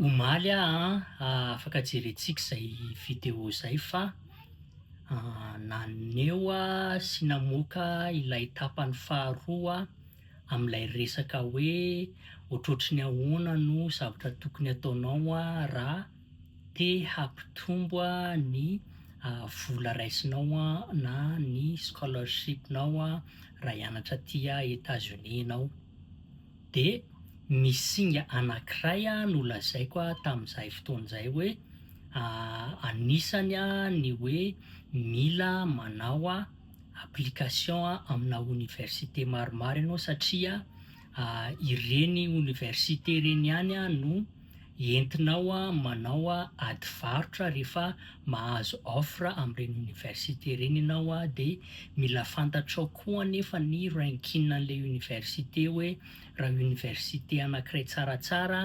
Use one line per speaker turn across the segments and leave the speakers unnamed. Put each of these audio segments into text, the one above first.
Omaly aho afaka jerentsika izay video izay fa naneho sy namoaka ilay tapany faharoa amin'ilay resaka hoe ohatrohatry ny ahoana no zavatra tokony ataonao raha. te hampitombo ny vola raisinao na ny scholarship-nao raha hianatra aty Etats-Unis ianao. Dia misy singa anankiray nolazaiko tamin'izay fotoana izay hoe anisany ny hoe mila manao application amina oniversite maromaro ianao satria ireny oniversite ireny ihany no entinao manao ady varotra rehefa mahazo offre amin'ireny université ireny ianao dia mila fantatrao koa anefa ny ranking an'ilay université hoe raha université anankiray tsaratsara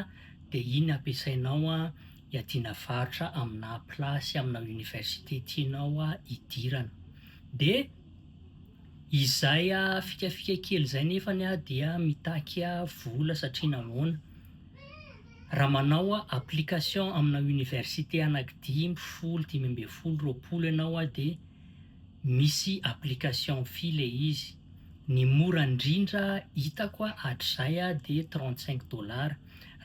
dia iny ampiasainao hiadiana varotra aminà place amina université tianao hidirana. Dia izay fikafika kely izay nefany dia mitaky vola satria nahoana? Raha manao application amina université anaky dimy, folo, dimy ambin'ny folo, roapolo ianao dia misy application fee ilay izy. Ny mora indrindra hitako hatrizay dia trente cinq dollars.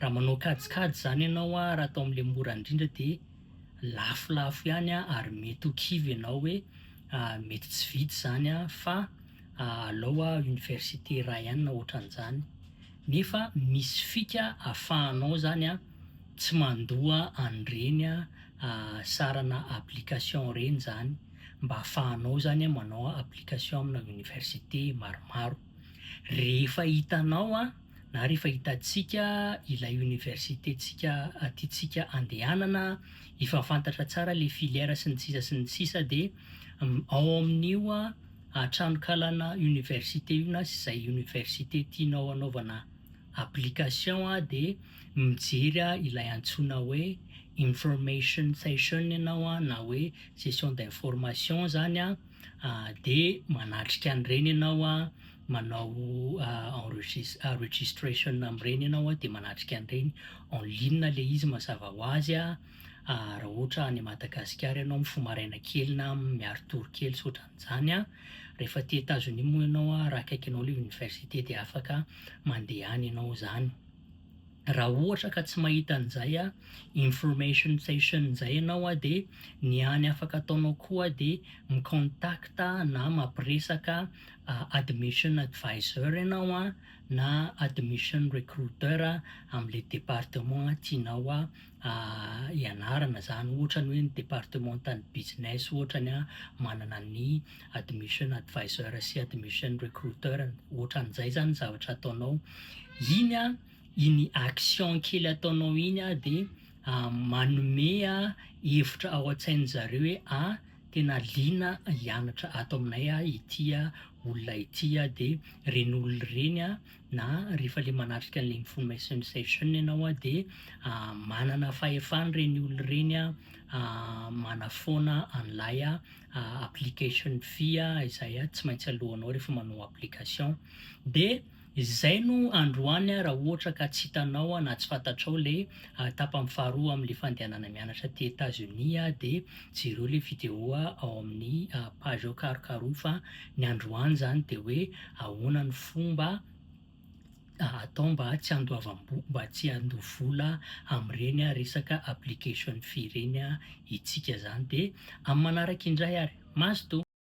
Raha manao kajikajy izany ianao raha atao amin'ilay mora indrindra dia lafolafo ihany ary mety ho kivy ianao hoe mety tsy vita izany fa alao aho université iray ihany na ohatran'izany. Nefa misy fika afahanao zany a tsy mandoa an'ireny sarana application ireny zany mba afahanao zany manao application amina université maromaro. Rehefa hitanao a na rehefa hitantsika ilay université tsika tiantsika andehanana efa fantatra tsara le filière sy ny sisa sy ny sisa de ao amin'io a. Hatranon-kalana université io na izay université tianao hanaovana application dia mijery ilay antsoina hoe information session ianao na hoe session d'information izany dia manatrika an'ireny ianao, manao enregistre registration amin'ireny ianao dia manatrika an'ireny, en ligne ilay izy mazava ho azy. Raha ohatra any Madagasikara ianao mifoha maraina kely na miaro tory kely sy ohatran'izany an, rehefa aty Etazonia moa ianao an, raha akaikinao ilay université dia afaka mandehana ianao izany. Raha ohatra ka tsy mahita an'izay an, information session izay ianao an, dia ny hany afaka ataonao koa dia mi-contact na mampiresaka admission advisor ianao an, na admission recruiter amin'ilay département tianao ianarana izany ohatra ny hoe ny departemantan'ny business ohatra ny manana ny admission advisor sy admission recruiter ohatran'izay izany ny zavatra ataonao iny a iny action kely ataonao iny a de manome a hevitra ao an-tsain'ny zareo hoe a tena liana hianatra ato aminay a ity a olona ity a de ren'olo ireny a na rehefa ilay manatrika an'ilay information session ianao dia manana fahefana ireny olona ireny manafoana an'ilay application fee izay tsy maintsy alohanao rehefa manao application. Dia izay no androany raha ohatra ka tsy hitanao na tsy fantatrao ilay tapany faharoa amin'ilay fandehanana mianatra aty Etats-Unis dia Jereo le video ao amin'ny page ao karokaroy fa ny androany zany de hoe ahoana ny fomba atao mba tsy handoavam-bola mba tsy handoa vola amin'ireny resaka application fee ireny isika zany de amin'ny manaraka indray ary. Mazotoa.